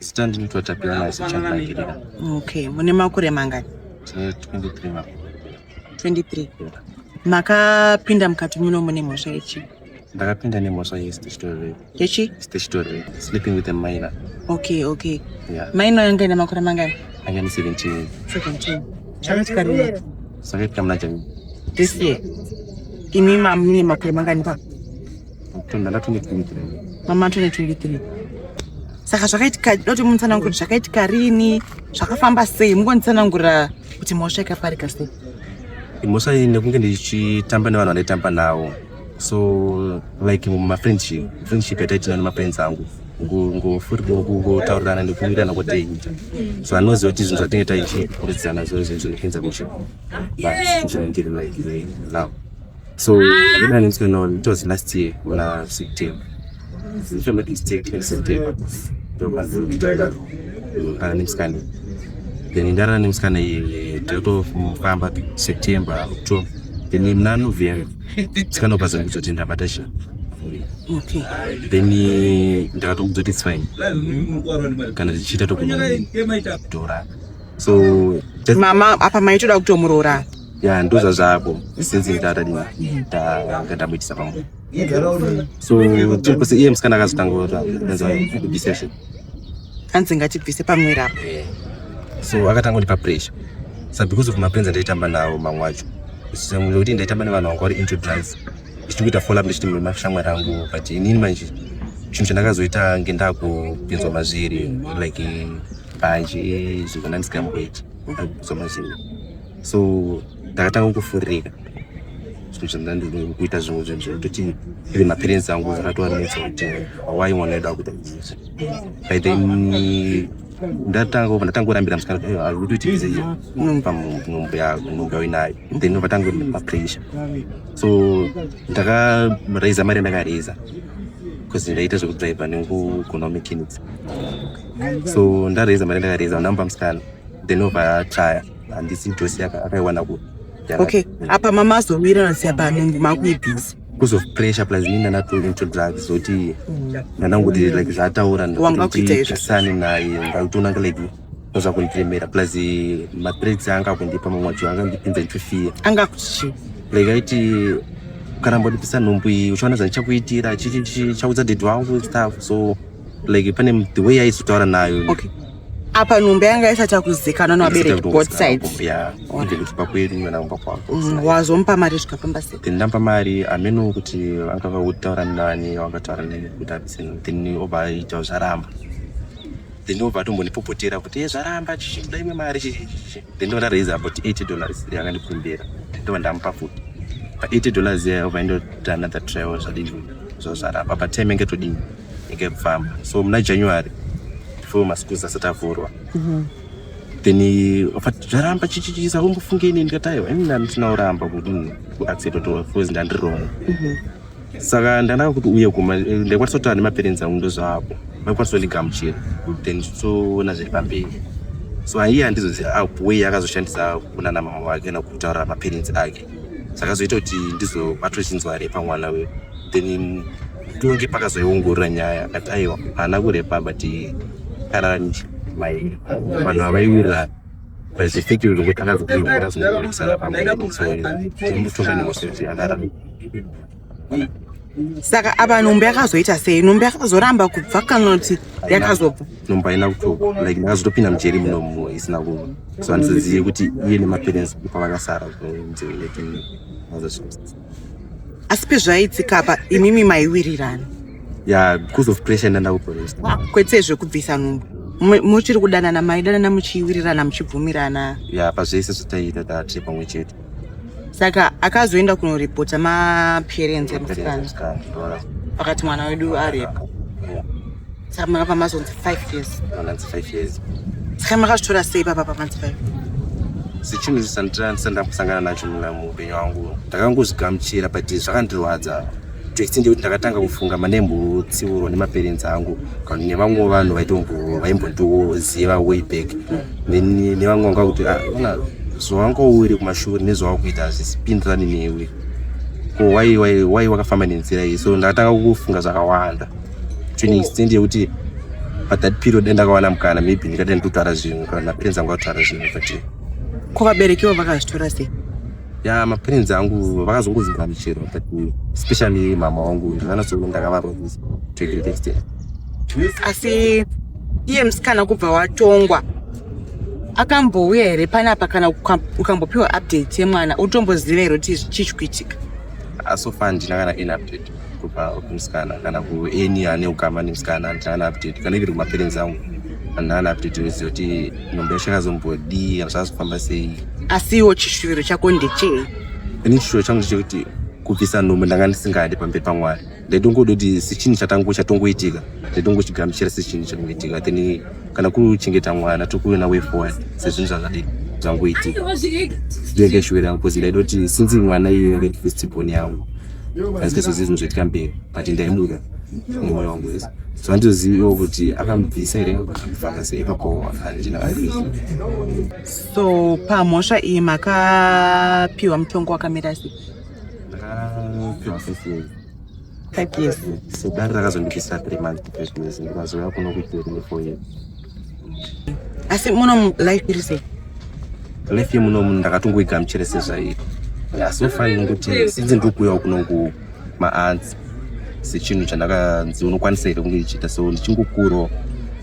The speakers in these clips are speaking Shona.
zita ndinoitwa Tapiona Zichandangirira. Okay, mune makore mangani? Tine 23 makore. 23. Makapinda mukati muno mune mhosva yechi? Ndakapinda nemhosva yesitishitorepi. Yechi? Statutory. Sleeping with a minor. Okay, okay. Yeah. Minor yanga ina makore mangani? Anga ni 17. 17. Chakatika rini? Sakatika muna January. This year. Imi ma mine makore mangani pa? Tunda la 2023. Mama 2023. Saka zvakaitika doti munitsanangura zvakaitika rini? Zvakafamba sei? Mungonitsanangura kuti mhosva ikaparika sei? Mhosva iyi nekunge ndichitamba nevanhu vandaitamba navo. so like mumafriendship friendship yataitina nemafriends angu ngofurikungotaurirana nekuwirirana kwataita so anoziva kuti zvinhu zvatinge taichiudzana zvo zvinhu zvinokuenza kuchi zvinondiri like now so idanitskenol it was last year una september kana nemusikana then ndarara nemusikana iye totofamba september october then muna november musikana ubva zangu zoti ndabata china then ndakatokudzoti its fine kana tichiita tokutora so mama apa maitoda kutomuroora ya ndozvazvako since ndadadinga ndamuitisa pamwe so tirikuse iye musikana akazotanga kubvisa session hanzi ngatibvise pamwera apo eh. so akatanga kundipa pressure sa because of mapenzi andaitamba nawo mamwe acho kuti ndaitamba nevanhu vanga vari into drugs ichiti kuita follow up ndichiti mashamwari angu but inini manje chinhu chandakazoita ngendaa kupinzwa mazviri like banje zvinhu zvandandisingamboiti kupinzwa mazviri so ndakatanga kufuririka kuita zvimwe zvinhu zvekutoti ive maparents angu akatoanetsa kuti why mwana wedu akuita izvi by then ndatangorambira musikana kuti ari kutoita izvi unomupa nhombo yako nhombo yauinayo then ndobva tangopa pressure so ndakaraiza mari yandakaraiza because ndaita zvekudriver nekugona mechanics so ndaraiza mari yandakaraiza ndampa musikana then obva atraya handisi njosi akaiwana ku okay apa mama azowirirana siya panungu makuibhizi because of pressure plus ini ndanatointroduct zoti ndanangoti mm. like zvaataura ndasane naye ndakutoona nga like noza kundiremera plus eh, matrades anga akundipa mamwe acho anga ndipinza ndichifia anga kuchi like aiti kana mbodipisa nhumbu iyi uchiona zvandichakuitira chaudza dedi wangu stuff so like pane the way aizotaura nayo okay apa nhumbi yanga isati yakuzikanwa nevabereki both sides mm, wazomupa mari zvikafamba seindampa mari ameno kuti vanga vakutaura nani vakataura nani kuti abiseno then obva aita zvaramba then obva atombonipopotera kuti e zvaramba chichida imwe mari chichichichi then ndova ndaraiza about 80 dollars yanga ndikumbira ndova ndamupa futi pa 80 dollars iya obva indota another travel zvadii zvo zvaramba patime ngetodii nyika yekufamba so muna january before maschools asati avhurwa mhm. then vafati zvaramba chichichisa vombofunge ini ndikati aiwa ini ndandisina kuramba kuti kuaccept kuti coz ndandiri wrong mhm. saka ndanaka kuti uye kuma ndaikwanisa kutaura nemaparents angu ndozvaapo vaikwanisa kundigamuchira then tichiona zviri pamberi so aiye handizoziva ah, way akazoshandisa kunana mama wake kana kutaura maparents ake zvakazoita kuti ndizobatwa chinzwa repa mwana we then tonge pakazoiongorora nyaya akati aiwa haana kurepa but karani mai vanhu avaiwira vazifiki kuti akazokuiwira zvinooresana pamwe so mutonga nemosi kuti akarani saka apa nhumbu yakazoita sei nhumbu yakazoramba kubva kana kuti yakazobva nhumbu haina kutoka like ndakazotopinda mujeri muno mumo isina kuva so handisazive kuti iye nemaparents pavakasara asi pezvaiitika apa imimi maiwirirana ya because of pressure ndandakuporesa ah, kwete zvekubvisa nhumbu muchiri kudanana maidanana muchiwirirana muchibvumirana ya pazvese zvataiita tatri pamwe chete saka akazoenda kunoripota maparents emusikana vakati mwana wedu aripo saka makapa mazonzi five years saka makazvitora sei papa pamanzi five sechinhu chisandisandira kusangana nacho muna muupenyu wangu ndakangozigamuchira but zvakandirwadza Text ndekuti ndakatanga kufunga mane mbotsiurwa nemaparents angu kana nevamwe vanhu vaitombo vaimbondiziva way back then nevamwe vanga kuti ah, ona zvawangouri kumashure nezvawakuita hazvisipindirani newe ko wai wai wai wakafamba nenzira iyi so ndakatanga kufunga zvakawanda to an extent yekuti but that period ndakawana mukana maybe ndikada nditotwara zvinhu kana maparents angu atwara zvinhu but ko vaberekiwo vakazvitora sei ya maparents angu vakazongozivwa michero but especially mama wangu ndakanasoona ndakavarwa this to a great extent asi iye musikana kubva watongwa akambouya here panapa kana uka- ukambopiwa update yemwana utomboziva here kuti chii chikuitika asofa handina kana any update kupa musikana kana kueni ane ukama nemusikana andina ana update kana iviri kumaperenzi angu andina ana update wese kuti nhombe yacho yakazombodii kana zvazofamba sei asiwo chishuviro chako ndechei ini chishuviro changu ndechekuti kubvisa nhombe ndanga ndisingadi pamberi pamwari ndaitongoda kuti sechinhu chatangu chatongoitika ndaitongochigamuchira sechinhu chatongoitika then kana kuri kuchengeta mwana tokuve naway forward sezvinhu zvazvadii zvangoitika ndenge shuviro yangu bcause ndaida kuti sinzi mwana iye red festival yangu aizvese zvinhu zvoitika mberi but ndaimuda nemoyo wangu wese so anditoziviwo kuti akamubvisa here akafamba sei ipapo handina so pamhosva iyi makapiwa mutongo wakamira sei ndakapiwa five years five years so dare rakazondipisa three months kuprison ndikazouya kuno kuitirine four years asi muno life iri sei life yemuno munhu ndakatongoigamuchira sezvaiko so far inongoti since ndiri kuuyawo kuno ku maanzi sechinhu chandakanzi unokwanisa here kunge ichiita so ndichingokuro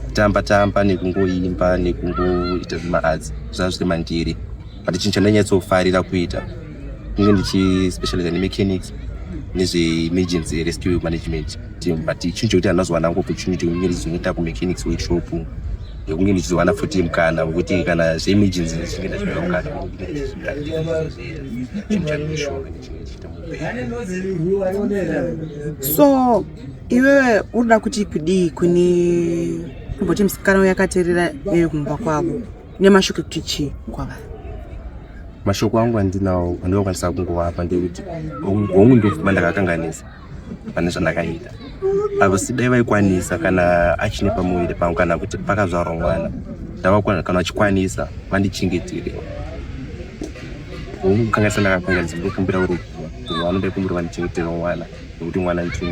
kutamba tamba nekungoimba nekungoita zvemaadzi zvaa zviri mandiri but chinhu chandanyatsofarira kuita kunge ndichispecializa nemechanics nezveemergency rescue management but chinhu chekuti anozowana ngo opportunity kunge ndichizoita kumechanics workshop yekunge ndichizowana futi mukana wekuti kana zveemergency ndichinge ndachiona mukana chinhu chandoshova ndichiita so iwewe unoda kuti kudii kune kumboti musikana uyo akateerera iyoyo kumba kwavo nemashoko ekuti chii kwavari mashoko angu andinawo andinokwanisa kungovapa ndekuti hongu ndofuma ndakakanganisa pane zvandakaita havasi dai vaikwanisa kana achine pamuviri pangu kana kuti pakazvarwa mwana ndavakwana kana vachikwanisa vandichengetere hongu kangaisa ndakakangadzimbira kumbira kurukuva kuti vanoda kumbira vandichengetere mwana nekuti mwana ndichimwe